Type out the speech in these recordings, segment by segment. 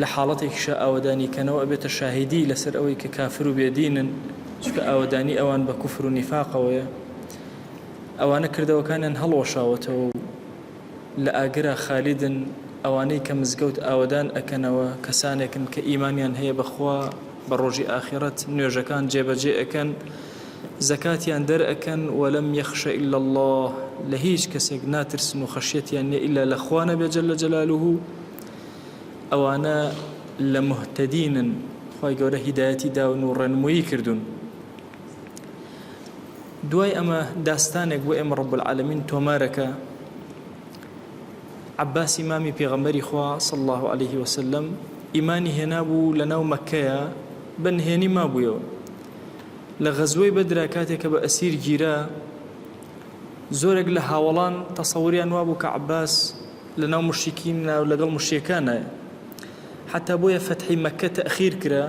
لە حاڵەتێکیشا ئاوەدانی کەنەوە ئەبێتە شاهیدی لەسەر ئەوەی کە کافر و بێ دینن، چونکە ئاوەدانی ئەوان بە کوفر و نیفاقەوەیە. ئەوانە کردەوەکانیان هەڵوەشاوەتەوە و لە ئاگرا خالیدن، ئەوانەی کە مزگەوت ئاوەدان ئەکەنەوە کەسانێکن کە ئیمانیان هەیە بە خوا بە ڕۆژی ئاخیڕەت، نوێژەکان جێ بە جێ ئەکەن، زەکاتیان دەر ئەکەن، ولم یخش الا اللە، لە هیچ کەسێک ناترسن و خەشیەتیان نیە ئیلا لە خوا نەبێت جل جلاله. ئەوانە لە مهتدینن خوای گەورە هیدایەتی داون و ڕێنمویی کردوون دوای ئەمە داستانێک بۆ ئێمە ڕب العالمین تۆمارەکە عباسی مامی پێغەمبەری خوا صل الله عليه وسلم ئیمانی هێنابوو لە ناو مەکەیە بە نهێنی مابوویەوە لە غەزوەی بەدرا کاتێک کە بە ئەسیر گیرا زۆرێک لە هاوڵان تەسەوریان وابوو کە عباس لەناو موشریکینە و لەگەڵ موشریەکانە حەتا بۆیە فەتحی مەکە تەئخیر کرا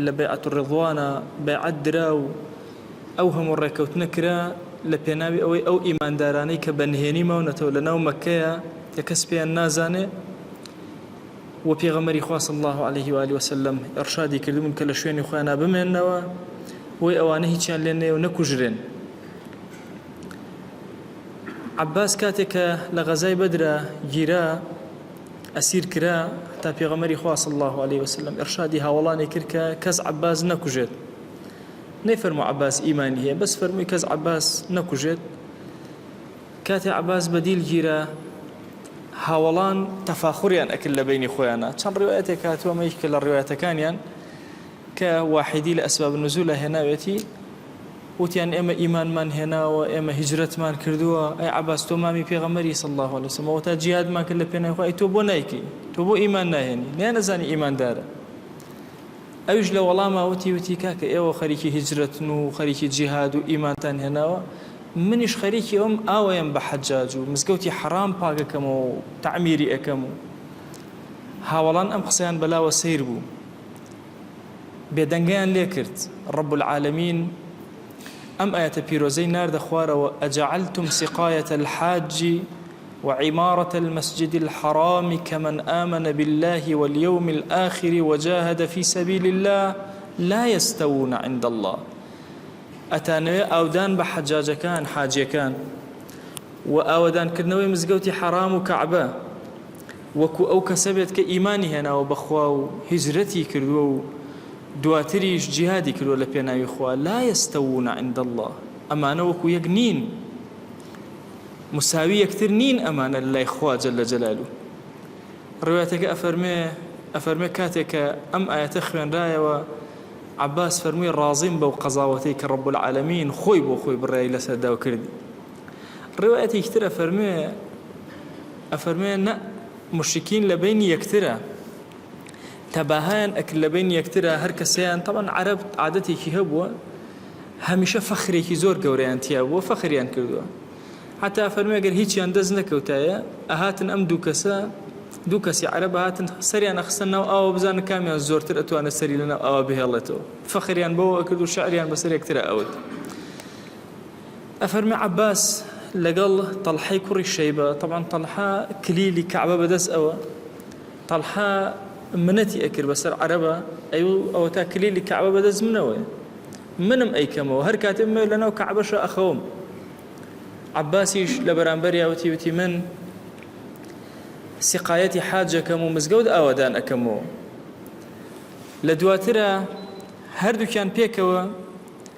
لە بەیعەت الرضوانە بەیعەت درا و ئەو هەموو ڕێکەوتنە کرا لە پێناوی ئەوەی ئەو ئیماندارانەی کە بە نهێنی ماونەتەوە لەناو مەکەیە کە کەس پێیان نازانێ و پێغەمەری خوا صلی الله علیه و آله وسلم ارشادی کردبوون کە لە شوێنی خۆیان بمێنەوە بۆی ئەوانە هیچیان لێ نەیە و نەکوژرێن عەباس کاتێک کە لە غەزای بەدرا گیرا ئەسیر کرا تا پێغەمەری خوا صلی الله علیه وسلم ئرشادی هاوڵانی کرد کە کەس عباس نەکوژێت نەیفەرمو عباس ئیمانی هەیە بەس فەرمووی کەس عباس نەکوژێت کاتێ عباس بەدیل گیرا هاوڵان تەفاخوریان ئەکرد لە بینی خۆیانە چەند ڕوایەتێک هاتووە مەیش کە لە ڕوایەتەکانیان کە واحدی لە ئەسباب نزول لە هێناوێتی وتیان ئێمە ئیمانمان هێناوە ئێمە هیجرەتمان کردووە ئەی عەباس تۆ مامی پێغەمبەری صلی اللە علیە وسلم وەتا جیهادمان کرد لە پێنای خوا ئەی تۆ بۆ نایکەی تۆ بۆ ئیمان ناهێنی نیان نەزانی ئیماندارە ئەویش لە وەڵاما وتی وتی کاکە ئێوە خەریکی هیجرەتن و خەریکی جیهاد و ئیمانتان هێناوە منیش خەریکی ئەوم ئاوەیەم بە حەجاج و مزگەوتی حەرام پاگەکەمەوە و تعمیری ئەەکەم و هاوەڵان ئەم قسەیان بەلاوە سیر بوو بێدەنگیان لێ کرد، رب العالمین ئەم ئایەتە پیرۆزەی ناردە خوارەوە، اجعلتم سقایە الحاج و عمارە المسجد الحرام کمن آمن باللە و الیوم الآخر و جاهد فی سبیل اللە لا یستوون عند اللە ئەتانەوێ ئاودان بە حەجاجەکان، حاجیەکان، و ئاوەدانکردنەوەی مزگەوتی حەرام و کەعبە، وەکو ئەو کەسە بێت کە ئیمانی هێناوە بە خوا و هیجرەتی کردووە و دواتریش جیهادی کردووە لە پێناوی خوا، لا یستوون عند اللە، ئەمانە وەکو یەک نین، مساوی یەکتر نین ئەمانە لە لای خوا جل جلالە. ڕوایەتەکە ئەفەرمێ، ئەفەرمێ کاتێک کە ئەم ئایەتە خوێنرایەوە، عەباس فەرمووی ڕازیم بەو قەزاوەتەی کە رب العالمین خۆی بۆ خۆی بڕیاری لەسەر دا و کردی. ڕوایەتێکی تر ئەفەرموێ، ئەفەرموێ نە موشرکین لە بەینی یەکترا تەباهایان ئەکرد لە بەینی یەکترا هەر کەسەیان تەبعەن عەرەب عادەتێکی هەبووە هەمیشە فەخرێکی زۆر گەورەیان تیا بووە فەخریان کردووە حتا فەرموێ گەر هیچیان دەست نەکەوتایە ئەهاتن ئەم دوو کەسە دوو کەسی عەرەب هاتن سەریان ئەخستە ناو ئاوە بزانن کامیان زۆرتر ئەتوانێت سەری لەناو ئاوە بهێڵێتەوە فەخریان بەوە ئەکرد و شعریان بەسەر یەکترا ئەوت ئەفەرمێ عەباس لەگەڵ تەڵحەی کوڕی شەیبە، تەبعەن تەڵحە کلیلی کەعبە بەدەست ئەوە، تەڵحە منەتی ئەکرد بەسەر عەرەبا، ئەی ئەوەتا کلیلی کەعبە بەدەست منەوەیە، منم ئەیکەمەوە، هەر کاتێ بمەوێ لەناو کەعبەشا ئەخەوم. عەباسیش لە بەرامبەریا وتی، وتی من سقایەتی حاج ئەکەم و مزگەوت ئاوەدان ئەکەمەوە. لە دواترا هەردووکیان پێکەوە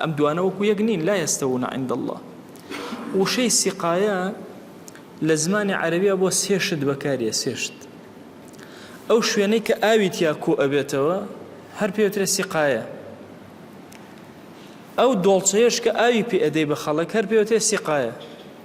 ئەم دوانە وەکو یەک نین لا یەستەوون عند اللە وشەی سیقایە لە زمانی عەرەبیە بۆ سێ شت بەکاریە سێ شت ئەو شوێنەی کە ئاوی تیا کۆ ئەبێتەوە هەر پێوترێ سیقایە ئەو دۆڵچەیەش کە ئاوی پێ ئەدەی بە خەڵک هەر پێوترێ سیقایە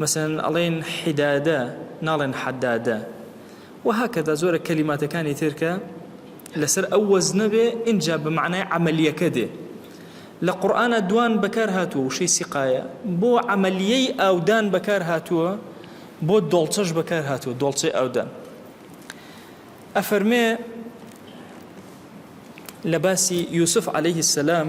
مەسەلەن ئەڵێن حیدادە ناڵێن حەدادە وهکذا زۆرێک کەلیماتەکانی تر کە لەسەر ئەو وەزنە بێ ئینجا بە مەعنای عەمەلیەکە دێ لە قورئانا دوان بەکار هاتووە وشەی سیقایە بۆ عەمەلیەی ئاودان بەکار هاتووە بۆ دۆڵچەش بەکار هاتووە دۆڵچەی ئاودان ئەفەرمێ لە باسی یوسف عليه السلام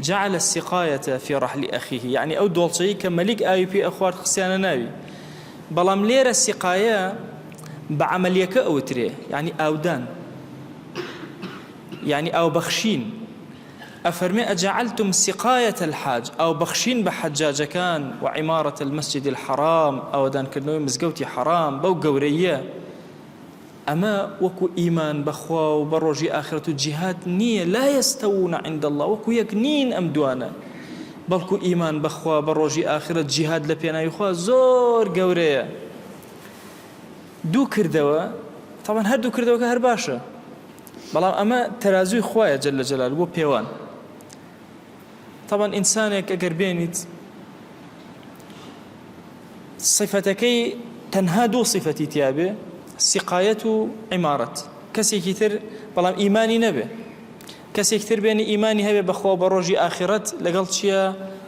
جعل السقایە فی رحل اخیه یەعنی ئەو دۆڵچەی کە مەلیک ئاوی پێ ئەخوارد خستیانە ناوی بەڵام لێرە سقایە بە عملیەکە ئەوترێ یەعنی ئاودان یەعنی ئاو بەخشین ئەفەرمێ ئەجعلتم سقایە الحاج ئاو بەخشین بە حەجاجەکان و عمارەت المسجد الحرام ئاوەدانکردنەوەی مزگەوتی حرام بەو گەورەیە ئەمە وەکو ئیمان بە خوا و بە ڕۆژی ئاخرەت و جیهاد نییە، لا یستوون عند اللە، وەکو یەک نین ئەم دوانە، بەڵکو ئیمان بە خوا بە ڕۆژی ئاخرەت جیهاد لە پێناوی خوا زۆر گەورەیە. دوو کردەوە، تەبعەن هەردوو کردەوەکە هەر باشە، بەڵام ئەمە تەرازووی خوایە جل جلاله بۆ پێوان. تەبعەن ئینسانێک ئەگەر بێنیت صفەتەکەی تەنها دوو صفەتی تیابێ سقایەت و عیمارەت کەسێکی تر بەڵام ئیمانی نەبێ کەسێک تر بێنی ئیمانی هەبێ بەخوا بە ڕۆژی ئاخرەت لەگەڵ چییە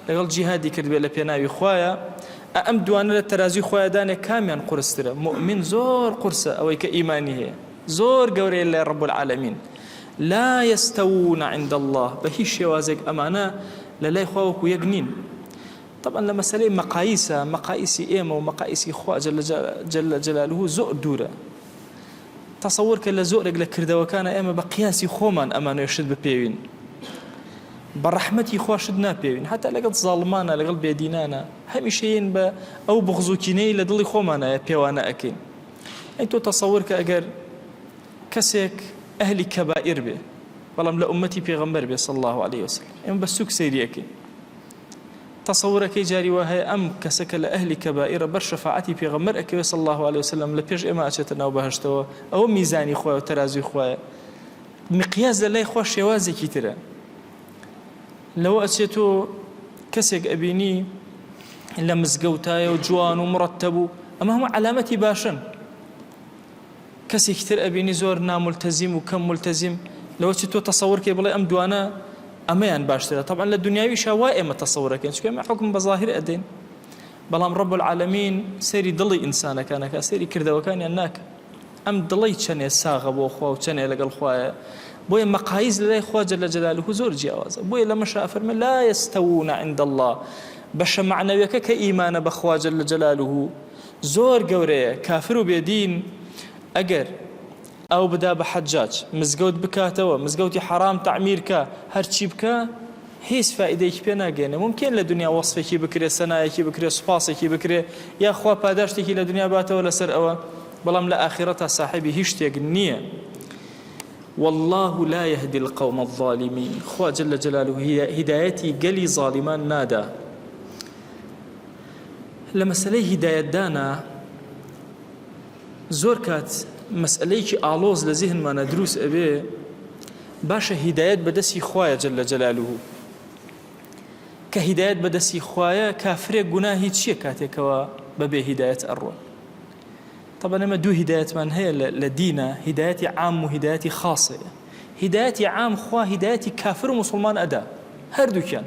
لەگەڵ جیهادی کردبێ لە پێناوی خویە ئەم دوانە لە تەرازی خۆیدانێک کامیان قرسترە مؤمن زۆر قورسە ئەوەی کە ئیمانی هەیە زۆر گەورەیە لە ڕب العالمین لا یستوون عند اللە، بە هیچ شێوازێک ئەمانە لە لای خوا وەکو یەک نین. تەبعەن لە مەسەلەی مەقایسا، مەقایسی ئێمە و مەقایسی خوا جل جلالە زۆر دوورە. تەسەور کە لە زۆرێک لە کردەوەکانا ئێمە بە قیاسی خۆمان ئەمانوێ شت بپێوین. بە ڕەحمەتی خوا شت ناپێوین. هەتا لەگەڵ زاڵمانە، لەگەڵ بێدینانە، هەمیشەیین بە ئەو بغز و کینەی لە دڵی خۆمانایە پێوانە ئەکەین. ئەی تۆ تەسەور کە ئەگەر کەسێک ئەهلی کەبائیر بێ بەڵام لە ئومەتی پێغەمبەر بێ صلی اللە علیە وسلم ئێمە بە سوک سەیری ئەکەین تەسەورەکەی جاری وا هەیە ئەم کەسە کە لە ئەهلی کەبائیرە بەر شەفاعەتی پێغەمبەر ئەکەوێ صلی اللە علیە وسلم لە پێش ئێمە ئەچێتە ناو بەهەشتەوە ئەوە میزانی خۆی و تەرازوی خۆیە مقیاز لە لای خۆ شێوازێکی ترە لەوە ئەچێت تۆ کەسێک ئەبینی لە مزگەوتایە و جوان و مڕەتەبوو ئەمە هەموو علامەتی باشن کەسێکی تر ئەبینی زۆر نامولتەزیم و کەم مولتەزیم لەوە چی تۆ تەسەور کەی بڵێ ئەم دوانە ئەمەیان باشترە تەبعەن لە دنیاویشا وا ئێمە تەسەور ئەکەین چونکە ئێمە حوکم بە زاهیر ئەدەین بەڵام ڕەب العالمین سەیری دڵی ئینسانەکان ئەکا سەیری کردەوەکانیان ناکە ئەم دڵەی چەنێ ساغە بۆ خوا و چەنێ لەگەڵ خوایە بۆیە مەقایز لەلای خوا جل جلاله زۆر جیاوازە بۆیە لە مەشا فەرمە لا يستوون عند الله بەشە معنەویەکە کە ئیمانە بەخوا جل جلاله زۆر گەورەیە کافر و بێ دین ئەگەر ئاو بدا بە حەجاج مزگەوت بکاتەوە مزگەوتی حەرام تەعمیر کا هەرچی بکا هیچ فائیدەیەکی پێ ناگەێنێ ممکن لە دنیا وەسفێکی بکرێ سەنایەکی بکرێ سوپاسێکی بکرێ یا خوا پاداشتێکی لە دنیا باتەوە لەسەر ئەوە بەڵام لە ئاخرە تا ساحبی هیچ شتێک نییە والله لا يهدي القوم الظالمين خوا جل جلاله هدايتي قلي ظالمان نادا لە مەسەلەی هیدایەتدانا زۆر کات مەسئلەیەکی ئاڵۆز لە زیهنمانە دروست ئەبێ باشە هیدایەت بەدەستی خوایە جل لە جەلالوه کە هیدایەت بەدەستی خوایە کافرێک گوناهی چییە کاتێکەوە بەبێ هیدایەت ئەڕۆ طبعا ئەمە دوو هیدایەتمان هەیە لە دینە هیدایەتی عام و هیدایەتی خاصەیە هیدایەتی عام خوا هیدایەتی کافر و مسلمان ئەدا هەردووکیان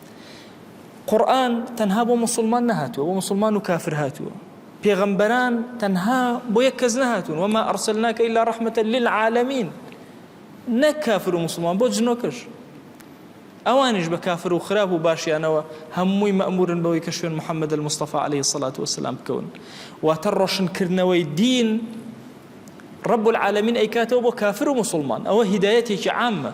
قورئان تەنها بۆ مسلمان نەهاتووە بۆ مسلمان و کافر هاتووە پێغەمبەران تەنها بۆ یەک کەس نەهاتون وما أرسلناك إلا رحمة للعالمين نەک کافر و مسلمان بۆ جنۆکەش ئەوانش بە کافر و خراپ و باشیانەوە هەمووی مەمورن بەوەی کە شوێن محەممەد المستەفا عليه سڵات وسلام بکەون واتە ڕۆشنکردنەوەی دین ڕب العالمین ئەیکاتەوە بۆ کافر و مسلمان ئەوە هیدایەتێکی عامە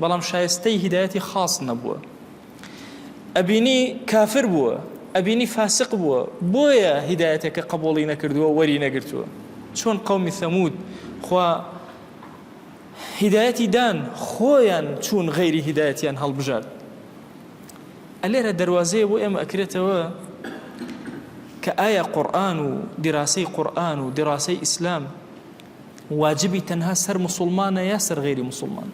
بەڵام شایستەی هیدایەتی خاص نەبووە ئەبینی کافر بووە ئەبینی فاسق بووە بۆیە هیدایەتەکە قبوڵی نەکردووە وەری نەگرتووە چۆن قومی ثەمود خوا هیدایەتی دان خۆیان چوون غەیری هیدایەتیان هەڵبژارد ئەلێرە دەواازەیە بۆ ئێمە ئەکرێتەوە کە ئایا قورآن و دیراسەی قورآن و دیراسەی ئیسلام واجبی تەنها سەر مسوڵمانە یا سەر غیری مسوڵمان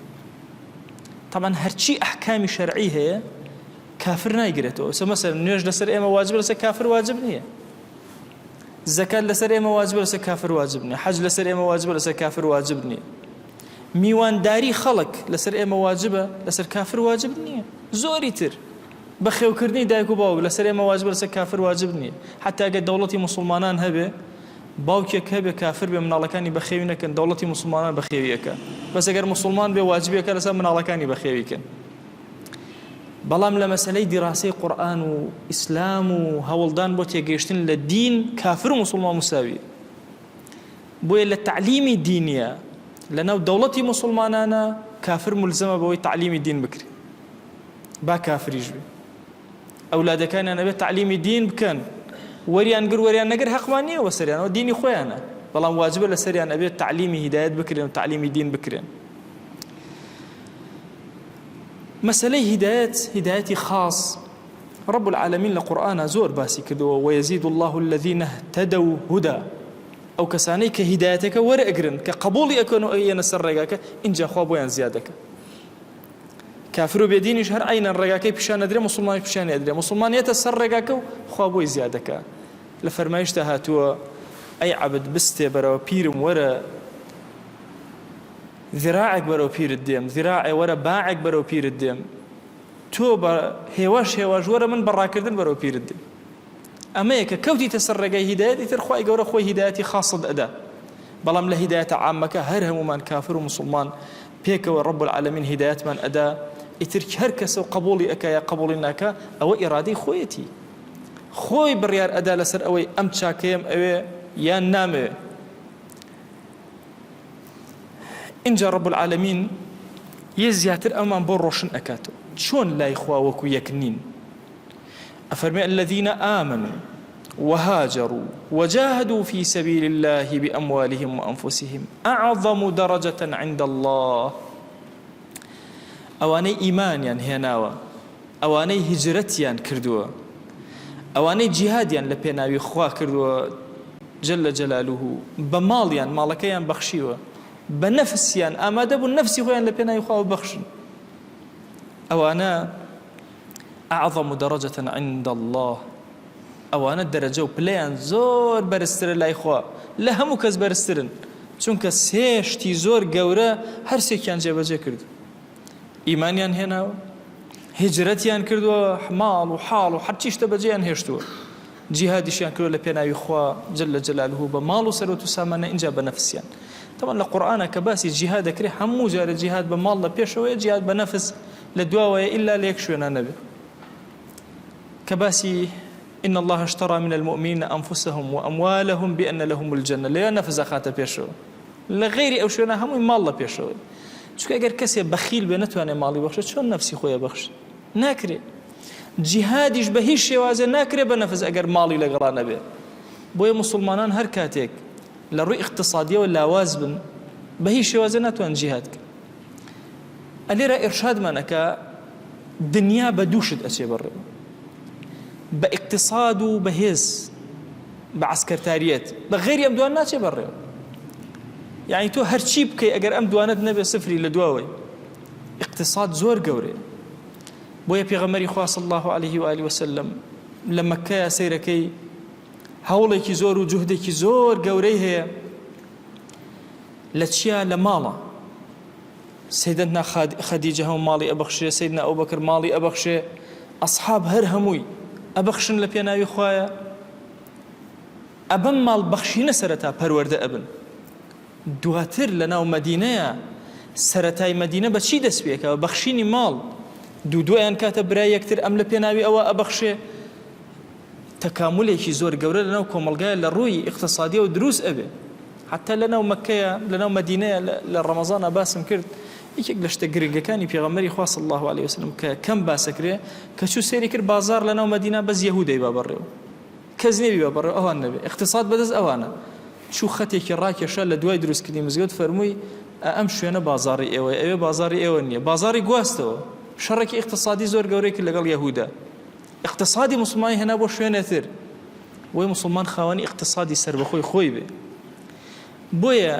طبعا هەرچی ئەحکامی شەرعی هەیە کافر نایگرێتەوە سە مەسەر نوێژ لەسەر ئێمە واجب لەسە کافر واجب نییە زەکات لەسەر ئێمە واجب لەسە کافر واجب نیە حەج لەسەر ئێمە واجب لەسەر کافر واجب نییە میوانداری خەڵک لەسەر ئێمە واجبە لەسەر کافر واجب نییە زۆری تر بەخێوکردنی دایک و باوک لەسەر ئێمە واجبە لەسەر کافر واجب نیە حەتا گەر دەوڵەتی موسڵمانان هەبێ باوکێک هەبێ کافر بێ مناڵەکانی بەخێوی نەکەن دەوڵەتی موسڵمانان بەخێوی ئەکا بەس ئەگەر موسڵمان بێ واجبێکە لەسەر مناڵەکانی بەخێوی کەن بەڵام لە مەسلەی دیڕاسی قورآن و ئیسلام و هەوڵدان بۆ تێگەشتن لە دین کافر و مسلمان مساوی بۆیە لە تعلیمی دینیە لەناو دەوڵەتی مسلمانانە کافر ملزمە بەوەی تعلیمی دین بکری با کافریش بێ ئەولادەکانیان ئەبێت تعلیمی دین بکەن وەریان گر وەریان نەگر حەقمان نییە وەسەریانەوە دینی خۆیانە بەڵام واجبە لە سەریان ئەبێت تعلیمی هیدایەت بکرێن و تعلیمی دین بکرێن مەسلەی هیدایەت هیدایەتی خاص رب العالمین لە قورآە زۆر باسی کردەوە وەزید الله الذین تەدە و هودا ئەو کەسانەی کە هیدایەتەکە وەرەگرن کە قبولی ئەکەن و ئەیەنە سەر ڕێگاکە اینجاخوا بۆیان زیادەکە کافر و بێدینیش هەر عەینەن ڕێگاکەی پیشان ئەدرێ موسڵمانیش پیشانی ئەدرێ موسڵمان یەتە سەر ڕێگاکە و خوا بۆی زیا دەکا لە فەرمایشتا هاتووە ئەی عەبد بستێ بەرەوە پیرم وەرە ذراعێک بەرەو پیرت دێم ذراعێ وەرە باعێک بەرەو پیرت دێم تۆ بە هێواش هێواش وەرە من بە ڕاکردن بەرەو پیرت دێم ئەمەیە کە کەوتیتە سەر ڕێگای هیدایەت ئیتر خی گەورە خۆی هیدایەتی خاصت ئەدا بەڵام لە هیدایەتە عامەکە هەر هەمومان کافر و مسلمان پێکەوە رب العالمین هیدایەتمان ئەدا ئیتر هەر کەسە و قبولی ئەکا یا قبولی ناکە ئەوە ئیرادەی خۆیەتی خۆی بڕیار ئەدا لەسەر ئەوەی ئەم چاکەیەم ئەوێ یان نامەوێ اینجا رب العالمین یە زیاتر ئەمان بۆ ڕۆشن ئەکاتەوە چۆن لای خوا وەکو یەک نین ئەفەرمێ الذین آمنوا وهاجروا وجاهدوا فی سبیل الله بأموالهم وأنفسهم أعظم درجة عند الله ئەوانەی ئیمانیان هێناوە ئەوانەی هجرەتیان کردووە ئەوانەی جیهادیان لە پێناوی خوا کردووە جل لە جەلالوه بە ماڵیان ماڵەکەیان بەخشیوە بە نەفسیان ئامادە بوون نەفسی خۆیان لە پێناوی خواوە بەخشن ئەوانە اعظم درجە عند اللە ئەوانە دەرەجە و پلەیان زۆر بەرزترە لای خوا لە هەموو کەس بەرزترن چونکە سێشتی زۆر گەورە هەرسێکیان جێبەجێ کرد ئیمانیان هێناوە هجرەتیان کردووە ماڵ و حاڵ و هەرچی شتە بەجێیان هێشتووە جیهادیشیان کردو لە پێناوی خوا جل لە جەلالهوو بە ماڵ و سەرۆت و سامانە اینجا بە نەفسیان تەوان لە قورآانە کە باسی جیهاد دەکرێت هەموو جارە جیهاد بە ماڵ لە پێشەوەی جیاد بە نەفس لە دواوەیە ئیلا لە یەک شوێنا نەبێ کە باسی ان الله اشترى من المؤمنین انفسهم واموالهم بان لهم الجنه لەوێ نەفس ئەخاتە پێشەوە لە غیری ئەو شوێنە هەمووی ماڵ لە پێشەوەی چونکە ئەگەر کەسێ بەخیل بێ نەتوانێت ماڵی بەخشێ چۆن نەفسی خۆیە بەخش ناکرێت جیهادیش بە هیچ شێوازێ ناکرێت بە نەفس ئەگەر ماڵی لەگەڵا نەبێت بۆیە مسلمانان هەر کاتێک لە ڕووی اقتصادیەوە لاواز بن بە هیچ شێوازێ ناتوان جیهاد کرد ئەلێرە ئێرشادمان ئەکا دنیا بە دوو شت ئەچێ بەڕێوە بە ئیقتصاد و بەهێز بە عسکەرتاریەت بە غێری ئەم دوان ناچێ بەڕێوە یعنی تۆ هەرچی بکەی ئەگەر ئەم دوانت نەبێ سفری لە دواوەی اقتصاد زۆر گەورێ بۆیە پێغەمەری خواص الله عليه وآله وسلم لە مەکەیە سەیرەکەی هەوڵێکی زۆر و جوهدێکی زۆر گەورەی هەیە لە چیا لە ماڵە سەیدەتنا خەدیجە هەموو ماڵی ئەبەخشێ سەیدنا ئەو بەکر ماڵی ئەبەخشێ ئەسحاب هەر هەمووی ئەبەخشن لە پێناوی خوایە ئەبەم ماڵ بەخشینە سەرەتا پەروەەردە ئەبن دواتر لە ناو مەدینەیە سەتای مەدینە بە چی دەست پێکەوە بەخشینی ماڵ دوو دویان کاتە برای یەکتر ئەم لە پێناوی ئەوە ئەبەخشێ تەکامولێکی زۆر گەورە لەناو کۆمەڵگایە لە ڕووی ئیقتسادیەوە دروست ئەبێ حتا لەناو مەکەیە لەناو مەدینەیە لە ڕەمەزانا باسم کرد یەکێک لە شتە گرنگەکانی پێغەمەری خوا صلی الله علیه وسلم کە کەم باسەکرێ کە چوو سێری کرد بازار لەناو مەدینە بەس یەهودەی با بەڕێو کەس نێبی با بەڕێو ئەوان نەبێ اقتصاد بەدەست ئەوانە چوو خەتێکی ڕاکێشە لە دوای دروستکردنی مزگەوت فەرمووی ئەم شوێنە بازاری ئێوە ئەوێ بازاری ئێوە نییە بازاری گواستەوە شەڕێکی اقتصادی زۆر گەورەی کرد لەگەڵ یەهودا ئیقتسادی موسڵمانی هێنا بۆ شوێنێ تر بۆی موسڵمان خاوەنی ئیقتسادی سربەخۆی خۆی بێ بۆیە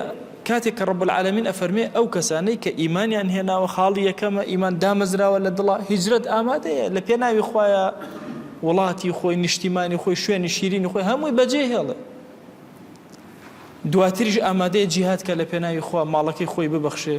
کاتێک کە ڕب العالمین ئەفەرمێ ئەو کەسانەی کە ئیمانیان هێناوە خاڵی یەکەمە ئیمان دامەزراوە لە دڵە هیجرەت ئامادەیە لە پێناوی خۆیە وڵاتی خۆی نیشتیمانی خۆی شوێنی شیرینی خۆی هەمووی بەجێ هێڵێ دواتریش ئامادەیە جیهات کە لە پێناوی خوا ماڵەکەی خۆی ببەخشێ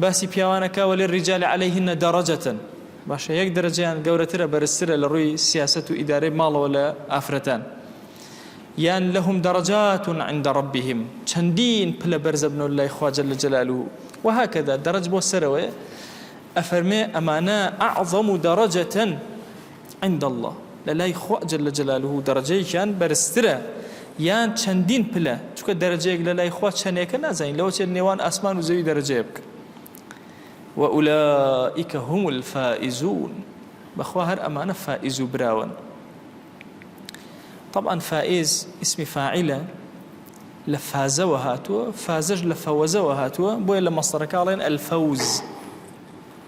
باسی پیاوان ئەکا وللرجال علیهن درجە باشە یەک دەرەجەیان گەورەترە بەرزترە لە ڕووی سیاسەت و ئیدارەی ماڵەوە لە ئافرەتان یان لهم درجات عند ربهم چەندین پلە بەرزە بنەوە لای خوا جل جلاله وهكذا درج بۆ سەرەوەیە ئەفەرمێ ئەمانە اعظم درجة عند اللە، لە لای خوا جل جلالە دەڕەجەیەکیان بەرزترە یان چەندین پلە، چونکە دەرەجەیەک لە لای خوا چەنێکە نازانین لەوە چێت نێوان ئاسمان و زەوی دەرەجەیە بکەن. وأولئک هم الفائزون بەخوا هەر ئەمانە فائز و براون طبعا فائز اسم فاعلە لە فازەوە هاتووە فازەش لە فەوەزەوە هاتووە بۆیە لە مەستەرەکە ئەڵێن الفوز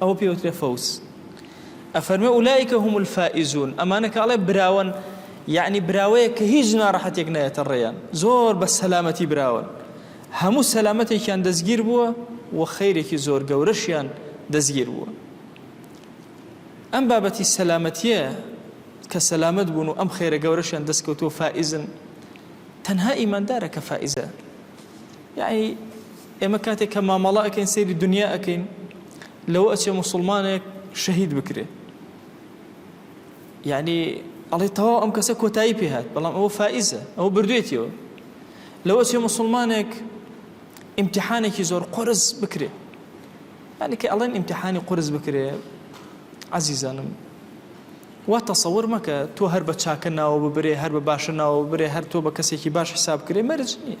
ئەوە پێی وترێ فەوز ئەفەرمێ ئولایکە هم الفائزون ئەمانە کە ئەڵێ براون یعنی براوەیە کە هیچ ناڕەحەتێک نایەتە ڕێیان زۆر بە سەلامەتی براون هەموو سەلامەتێکیان دەستگیر بووە و خەیرێکی زۆر گەورەشیان دەستگیر بووە ئەم بابەتی سەلامەتیە کە سەلامەت بوون و ئەم خێرە گەورەشیان دەستکەوتووە فائزن تەنها ئیماندارە کە فائزە یەعنی ئێمە کاتێک کە مامەڵە ئەکەین سەیری دونیا ئەکەین لەوە ئەچێ موسڵمانێک شەهید بکرێ یەعنی ئەڵێ تەواو ئەم کەسە کۆتایی پێهات بەڵام ئەوە فائیزە ئەوە بردوێتیەوە لەوە چێ مسلمانێک ئیمتحانێکی زۆر قرس بکرێ هەنێکی ئەڵێن ئیمتحانی قرس بکرێ عزیزانم وا تەسەور مەکە تۆ هەر بە چاکە ناوە ببرێ هەر بە باشە ناوە ببرێ هەر تۆ بە کەسێکی باش حساب کرێ مەرج نییە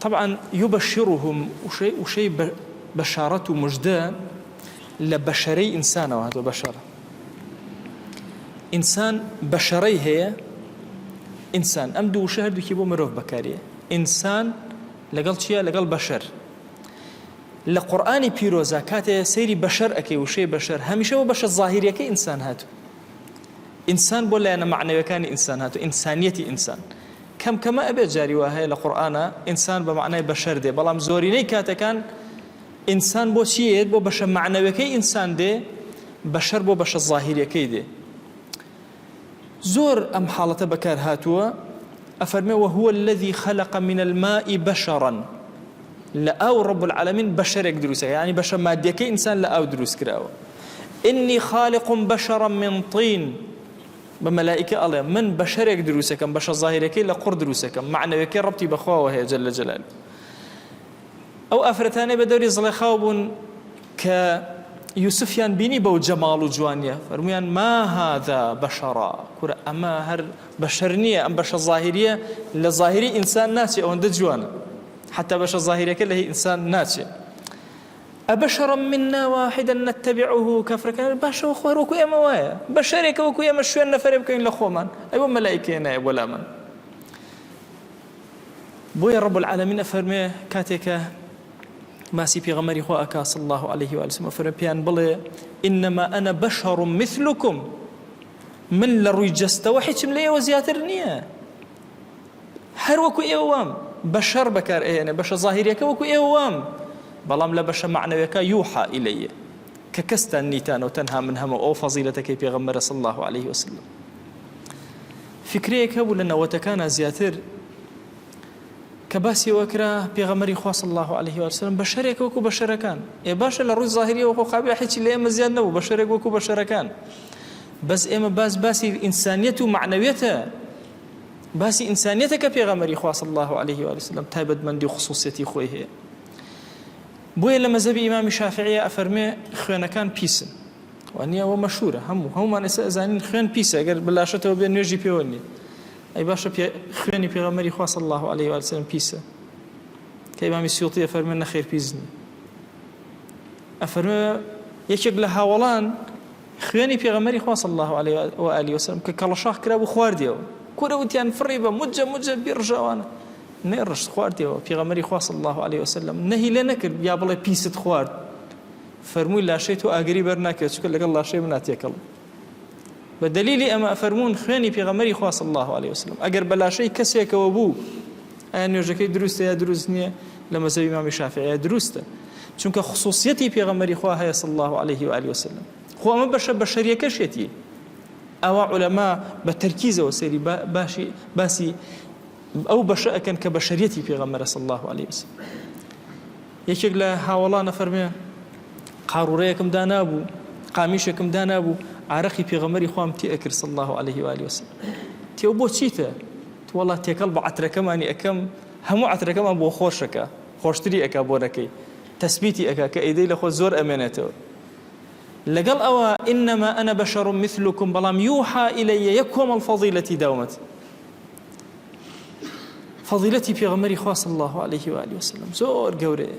طبعا یبشرهم وشەی بشارەت و مژدە لە بەشەرەی ئینسانەوە هاتوە بەشەر ئینسان بەشەرەی هەیە ئینسان ئەم دوو وشە هەردووکی بۆ مرۆڤ بەکاریە ئینسان لەگەڵ چییە لەگەڵ بەشەر لە قورآانی پیرۆزە کاتێ سەیری بەشەر ئەەکەی وشەی بەشەر هەمیشە بۆ بەشە ظاهریەکە ئینسان هاتو ئینسان بۆ لایەنە معنەوەکانی ئینسان هاتو ئینسانیەتی ئینسان کەم کەمە ئەبێت جاری وا هەیە لە قورئانا ئینسان بە مەعنای بەشەر دێ بەڵام زۆرینەی کاتەکان ئینسان بۆ چی یەت بۆ بەشە مەعنەوەکەی ئینسان دێ بەشەر بۆ بەشە ظاهیرەکەی دێ زۆر ئەم حاڵەتە بەکار هاتووە ئەفەرمێ وهو الذي خلق من الماء بشرا لە ئاو رب العالمین بەشەرێک دروستە یعنی بەشە مادیەکەی ئینسان لە ئاو دروست کراوە إني خالق بشرا من طين بە مەلائیکە ئەڵێ من بەشەرێک دروستەکەم بەشە ظاهیرەکەی لە قوڕ دروستەکەم معنەوێکەی ڕەبتی بەخواوە هەیە جل جلال ئەو ئافرەتانەی بە دەوری زڵێخاو بوون کە یوسفیان بینی بەو جەماڵ و جوانیە فەرمویان ما هذا بەشەڕا کورە ئەمە هەر بەشەر نییە ئەم بەشە ظاهریە لە ظاهری ئینسان ناچێ ئەوەندە جوانە حتا بەشە ظاهیرەکە لە هی ئینسان ناچێت ابشرا منا واحدا نتبعه کافرەکان ئەڵێن باشە وە خوار وەکو ئێمە وایە بەشەرێکە وەکو ئێمە شوێن نەفەرێ بکەوین لە خۆمان ئەی وە مەلایکەیە نایە بۆ لامان بۆیە رب العالمین ئەفەرمێ کاتێکە ماسی پێغەمەری خۆ ئەکا صلی الله علیه و آله وسلم ئەفەرمێ پێیان بڵێ انما انا بشر مثلكم من لە ڕووی جەستەوە هیچم لە ئێوە زیاتر نییە هەر وەکو ئێوە وام بە شەڕ بەکار ئەهێنێ بەشە ظاهریەکە وەکو ئێوە وام بەڵام لە بەشە معنەوەکە یوحا ئیلەیە کە کەستان نیتانەوە تەنها من هەمە ئەو فەزیلەتەکەی پێغەمبەر صلی الله عليه وسلم فکرەیەک هەبوو لە نەوەتەکانە زیاتر کە باسیەوە کرا پێغەمەری خواص الله عليه وسلم بە شەرێک وەکو بە شەرەکان ئێ باشە لە ڕووی ظاهریەوە خۆ قابی حچی لە ئێمە زیاد نەبوو بە شەرێک وەکو بە شەرەکان بەس ئێمە باس باسی ئینسانیەت و مەعنەویەتە باسی ئینسانیەتە کە پێغەمەری خوا صلی الله علیه و آله وسلم تایبەتمەندی و خصوصیەتی خۆی هەیە بۆیە لە مەزەبی ئیمامی شافعیە ئەفەرمێ خوێنەکان پیسن وانە ئەوە مەشورە هەموو هەمومان ئێستا ئەزانین خوێن پیسە گەر بلاشەتەوە بێ نوێژی پێوە نیە ئەی باشە خوێنی پێغەمەری خوا صلی الله علیه و آله وسلم پیسە کە ئیمامی سیوطی ئەفەرمێ نەخێر پیسنی ئەفەرمێ یەکێک لە هاوڵان خوێنی پێغەمبەری خوا صلی اللە علیە و آله وسلم کە کەڵەشاخ کرابوو خواردیەوە کورە وتیان فڕی بە مجە مجە بی ڕژاوانە نەی ڕشت خواردیەوە پێغەمبەری خوا صلی اللە علیە وسلم نەهی لێ نەکرد یا بڵێ پیست خوارد فەرمووی لاشەی تۆ ئاگری بەر ناکرێت چکە لەگەڵ لاشەی منا تێکەڵ بە دلیلی ئەمە فەرمونون خوێنی پێغەمەری خواص الله عليه وسلم ئەگەر بەلاشەی کەسێکەوە بوو ئایا نوێژەکەی دروستە یا دروست نییە لە مەزەبی مامی شافعەیە دروستە چونکە خصوصیەتی پێغەمەری خوا هەیە صلی الله عليه و آله وسلم خۆ ئەمە بەشە بەشەریەکەشێتی ئەوە عولەما بە تەرکیزەوە سەری باشی باسی ئەو بەشە ئەکەن کە بەشەریەتی پێغەمەرە صلی الله عليه وسلم یەکێک لە هاوڵانە فەرمێ قاڕورەیەکم دانابوو قامیشێکم دانابوو عراقی پێغەمەری خۆم تێ ئەکرد صلی الله عليه وآله وسلم تێو بۆ چیتە وەڵا تێکەڵ بە عەترەکەمانی ئەکەم هەموو عەترەکەمان بۆ خۆشەکە خۆشتری ئەکا بۆنەکەی تەسبیتی ئەکا کە ئیدەی لە خۆت زۆر ئەمێنێتەوە لەگەڵ ئەوە انما انا بشر مثلکم بەڵام یوحا الی یەک کۆمەڵ فەضیلەتی داومەت فەضیلەتی پێغەمەری خوا صلی الله علیه و آله وسلم زۆر گەورەیە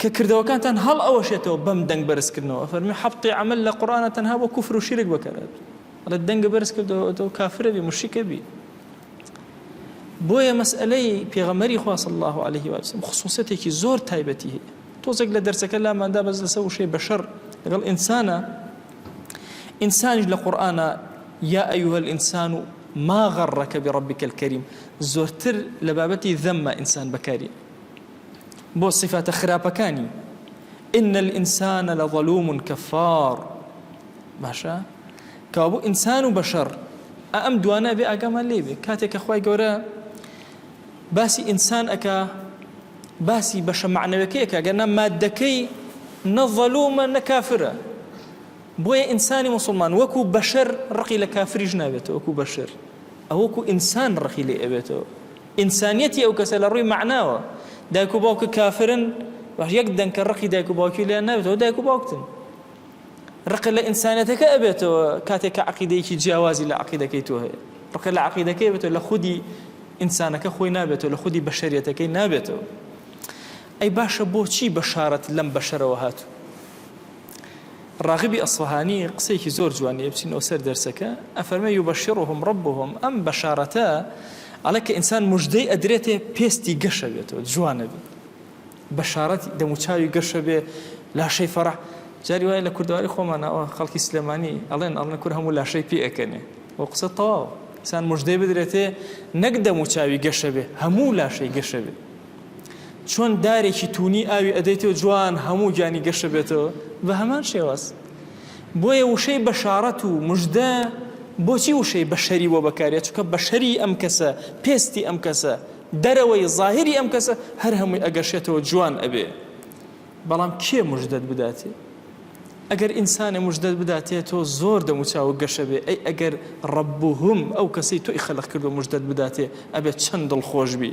کە کردەوەکانتان هەڵ ئەوەشێتەوە بەم دەنگ بەرز کردنەوە ئەفەرموێ حەبتی عەمەل لە قورئانە تەنها بۆ کوفر و شیرک بەکەرەت ئەڵێ دەنگە بەرز کردەوە تۆ کافرە بی مشرکە بی بۆیە مەسئلەی پێغەمەری خوا صلی الله علیه و آله خصوصیتێکی زۆر تایبەتی هەیە تۆزێک لە دەرسەکە لاماندا بەس لەسەر وشەی بەشەر لەگەڵ ئینسانە ئینسانیش لە قورئانە یا ئەیها الانسان ما غرك بربك الكريم زۆرتر لە بابەتی ذەمە ئینسان بەکاری بۆ سیفاتە خراپەکانی، ان الانسان لظلوم کفار، باشە کەوابوو ئینسان و بەشەڕ ئا ئەم دوانە بێ ئاگامان لێ بێ کاتێک کە خی گەورە باسی ئینسان ئەکا باسی بەشە معنەوەکەیەکە گەنا مادەکەی نەڤەلومە نەکافرە بۆیە ئینسانی مسلمان وەکو بەشەر ڕقی لە کافریش نابێتەوە وەکو بەشەر ئەوەکو ئینسان ڕقی لێ ئەبێتەوە ئینسانیەتی ئەو کەسە لە ڕووی مەعناوە دایک و باوکت کافرن باش یەک دەنکە ڕقی دایک و باوکی لێیان نابێت ئەوە دایک و باوکتن ڕقت لە ئینسانەتەکە ئەبێتەوە کاتێک کە عقیدەیەکی جیاوازی لە عقیدەکەی تۆ هەیە ڕقت لە عقیدەکەی بێتەوە لە خودی ئینسانەکە خۆی نابێتەوە لە خودی بەشەریەتەکەی نابێتەوە ئەی باشە بۆچی بەشارەت لەم بەشەرەوە هاتوو ڕاغبی ئەسفەهانی قسەیەکی زۆر جوان هەیە بچینەوە سەر دەرسەکە ئەفەرمێ یوبەشیڕهم ڕەبهم ئەم بەشارەتە ئەڵێ کە ئینسان مژدەی ئەدرێتێ پێستی گەشە بێتەوە جوانە بێت بەشارەت دەموچاوی گەشە بێ لاشەی فەرح جاری وایە لە کوردواری خۆمانەوە خەڵکی سلێمانی ئەڵێن ئەڵێن کور هەموو لاشەی پێ ئەکەنێ و قسە تەواو ئینسان مژدەی بدرێتێ نەک دەموچاوی گەشە بێ هەموو لاشەی گەشە بێت چۆن دارێکی تونی ئاوی ئەدەیتەوە جوان هەموو گیانی گەشە بێتەوە بە هەمان شێواز بۆیە وشەی بەشارەت و مژدە بۆچی وشەی بەشەری بۆ بەکارە چکە بەشەری ئەم کەسە پێستی ئەم کەسە دەرەوەی ظاهری ئەم کەسە هەر هەمووی ئەگەشێتەوە جوان ئەبێ بەڵام کێ مژدەت بداتێ ئەگەر ئینسانە مژدەت بداتێ تۆ زۆر دەموچاوە گەشە بێ ئەی ئەگەر ڕەبووهم ئەو کەسەی تۆی خەلق کردو مژدەت بداتێ ئەبێت چەند دڵخۆش بی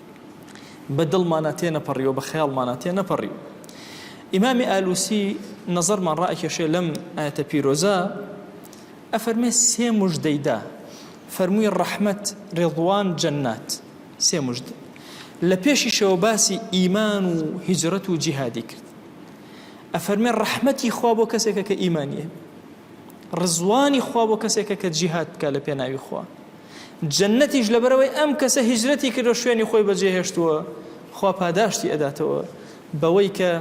بە دڵمانا تێ نەپەڕی و بە خەیاڵمانا تێ نەپەڕی و ئیمامی ئالوسی نەزەرمان ڕائەکێشێ لەم ئاەتە پیرۆزە ئەفەرمێ سێ مژدەیدا فەرمووی ڕەحمەت ڕێڵوان جەنات سێ مژدە لە پێشیشەوە باسی ئیمان و هیجرەت و جیهادی کرد ئەفەرمێ ڕەحمەتی خوا بۆ کەسێکە کە ئیمانیە ڕزوانی خوا بۆ کەسێکە کە جیهاد بکا لە پێناوی خوا جەنەتیش لەبەرەوەی ئەم کەسە هیجرەتی کردو شوێنی خۆی بەجێ هێشتووە خوا پاداشتی ئەداتەوە بەوەی کە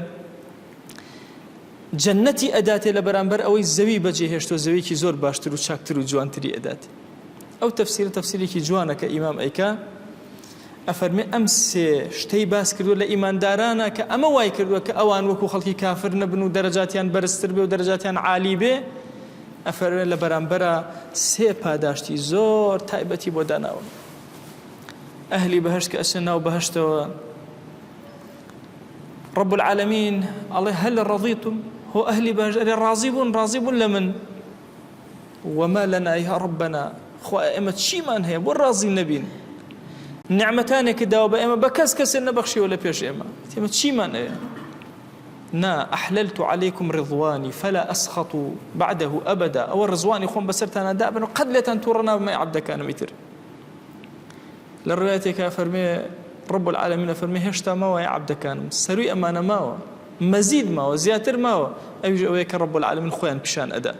جەنەتی ئەداتێ لە بەرامبەر ئەوەی زەوی بەجێ هێشتوە زەویکی زۆر باشتر و چاکتر و جوانتری ئەدات ئەو تەفسیرە تەفسیرێکی جوانە کە ئیمام ئەیکا ئەفەرمێ ئەم سێ شتەی باس کردووە لە ئیماندارانە کە ئەمە وای کردووە کە ئەوان وەکو خەڵکی کافر نەبن و دەرەجاتیان بەرزتر بێ و دەرەجاتیان عالی بێ ئەفەرمێ لە بەرامبەرا سێ پاداشتی زۆر تایبەتی بۆ داناون ئەهلی بەهشت کە ئەچنە ناو بەهشتەوە رب العالمین ئەڵێ هەل ڕەضیتم هۆ ئەهلی بەهشت ئەرێ ڕازی بوون ڕازی بوون لە من وما لنا یا ربنا خوایە ئێمە چیمان هەیە بۆ ڕازی نەبین نعمەتانێکی داوە بە ئێمە بە کەس کەسێ نەبەخشیەوە لە پێش ئێمە تێمە چیمان ئەوێ نا ئەحللت عليكم رضواني فلا أسخط بعده أبدا ئەوە ڕزوانی خۆم بەسەرتانە دابن و قەت لێتان تووڕە نابمە عبدەکانمی تر لە ڕوایەتێکا ئەفەرمێ رب العالمین ئەفەرمێ هێشتا ماوایە عەبدەکانم سەرووی ئەمانە ماوە مەزید ماوە زیاتر ماوە ئەویش ئەوەیە کە رب العالمین خۆیان پیشان ئەدا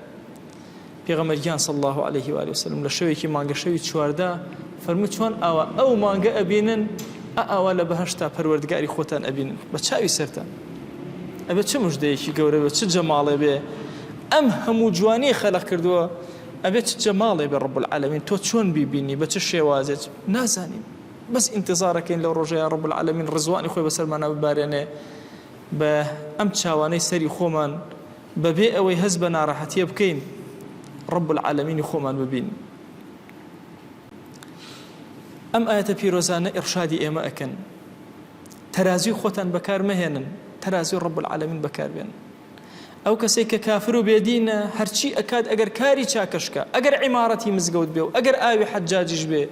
پێغەمبەر گیان صلی الله علیه و آله وسلم لە شەوێکی مانگە شەوی چواردا فەرموو چۆن ئاوا ئەو مانگە ئەبینن ئاوا لە بەهشتا پەروەردگاری خۆتان ئەبینن بە چاوی سەرتان ئەبێ چ مژدەیەکی گەورە بێ چ جەماڵێ بێ ئەم هەموو جوانی خەلق کردووە ئەبێ چ جەماڵێ بێ رب العالمین تۆ چۆن بیبینی بە چ شێوازێک نازانین بەس ئینتظارەکەین لەو ڕۆژە یا رب العالمین ڕزوانی خۆی بەسەرمانە ببارێنێ بە ئەم چاوانەی سەری خۆمان بەبێ ئەوەی هەز بە ناڕەحەتیە بکەین رب العالمینی خۆمان ببین ئەم ئاەتە پیرۆزانە ئڕشادی ئێمە ئەکەن تەرازی خۆتان بەکار مەهێنن تەرازی رب العالمین بەکاربێن ئەو کەسەی کە کافر و بێ دینە هەرچی ئەکات ئەگەر کاری چاکەش کا ئەگەر عیمارەتی مزگەوت بێ و ئەگەر ئاوی حەجاجیش بێ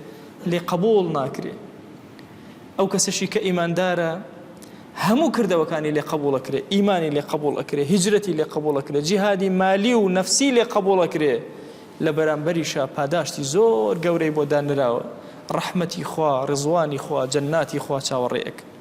لێ قەبووڵ ناکرێ ئەو کەسەشی کە ئیماندارە هەموو کردەوەکانی لێ قەبووڵ ئەکرێ ئیمانی لێ قەبووڵ ئەکرێ هیجرەتی لێ قەبووڵ ئەکرێ جیهادی مالی و نەفسی لێ قەبووڵ ئەکرێ لە بەرامبەریشا پاداشتی زۆر گەورەی بۆ دانراوە ڕەحمەتی خوا ڕیزوانی خوا جەنناتی خوا چاوەڕێ ئەکرێ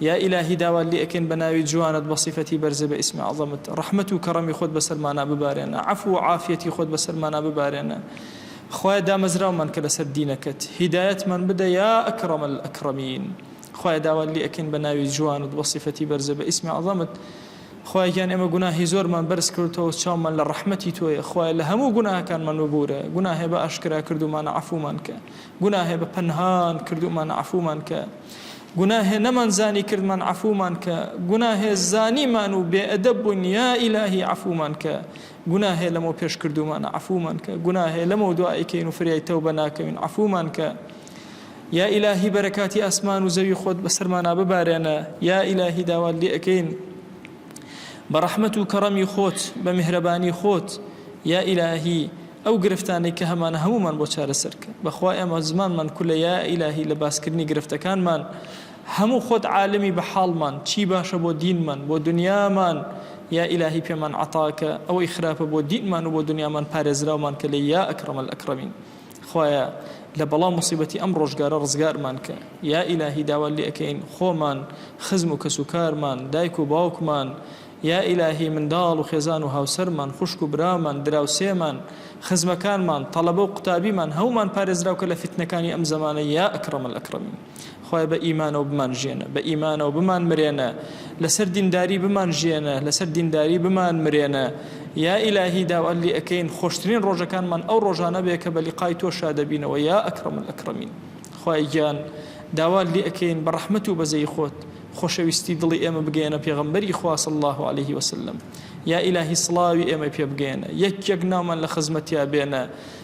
یا ئیلاهی داوات لێ ئەکەین بە ناوی جوانت بە سیفەتی بەرزت بە ئیسمی عەزەمت ڕەحمەت و کەڕەمی خۆت بەسەرمانا ببارێنە عەفو و عافیەتی خۆت بەسەرمانا ببارێنە خوایە دامەزراومان کە لەسەر دینەکەت هیدایەتمان بدە یا ئەکڕەم الئەکڕەمین خوایە داوات لێ ئەکەین بە ناوی جوانت بە سیفەتی بەرزت بە ئیسمی عەزەمت خوایە گیان ئێمە گوناهی زۆرمان بەرز کردتەوە چاومان لە ڕەحمەتی تۆیە خوایە لە هەموو گوناهەکانمان وبورە گوناهێ بە ئاشکرا کردومانە عەفومان کە گوناهێ بە پەنهان کردومانە عەفومان کە گوناهێ نەمان زانی کردمان عەفومان کە گوناهێ زانیمان و بێ ئەدەب بووین یا ئیلاهی عەفومان کە گوناهێ لەمەو پێش کردوومانە عەفومان کە گوناهێ لەمەو دوا ئەیکەین و فریای تەوبە ناکەوین عەفومان کە یا ئیلاهی بەرەکاتی ئاسمان و زەوی خۆت بەسەرمانا ببارێنە یا ئیلاهی داوات لێ ئەکەین بە ڕەحمەت و کەڕەمی خۆت بە میهرەبانی خۆت یا ئیلاهی ئەو گرفتانەی کە هەمانە هەموومان بۆ چارەسەر کە بەخوا ئێمە زمانمان کولە یا ئیلاهی لە باسکردنی گرفتەکانمان هەموو خۆت عالمی بە حاڵمان چی باشە بۆ دینمان بۆ دنیامان یا ئیلاهی پێمان عەتاکە ئەوەی خراپە بۆ دینمان و بۆ دنیامان پارێزراومان کە لێی یا ئەکرەمەلئەکرەمین. خوایە لە بەڵاو موسیبەتی ئەم ڕۆژگارە ڕزگارمان کە یا ئیلاهی داوات لێ ئەکەین خۆمان خزم و کەس و کارمان دایک و باوکمان یا ئیلاهی منداڵ و خێزان و هاوسەرمان خوشک و برامان دراوسێمان خزمەکانمان تەڵەبە و قوتابیمان هەومان پارێزراو کە لە فیتنەکانی ئەم زەمانە یا ئەکرەمەلئەکرەمین. خوایە بە ئیمانەوە بمان ژێنە بە ئیمانەوە بمان مرێنە لەسەر دینداری بمان ژێنە لەسەر دینداری بمان مرێنە یا ئیلاهی داوەلی ئەەکەین خۆشترین ڕۆژەکانمان ئەو ڕۆژانە بێ کە بەلی قای تۆ شادەبینەوە یا ئەکرم ئەکرمین خوای گیان داوا لێ ئەەکەین بە ڕەحمت و بەزەی خۆت خۆشەویستی دڵی ئێمە بگەێنە پێغمبەری خواص الله عليه وسلم یا ئیلاهی سڵاوی ئێمە پێ بگەێنە یەک یەک ناومان لە خزمەتیا بێنە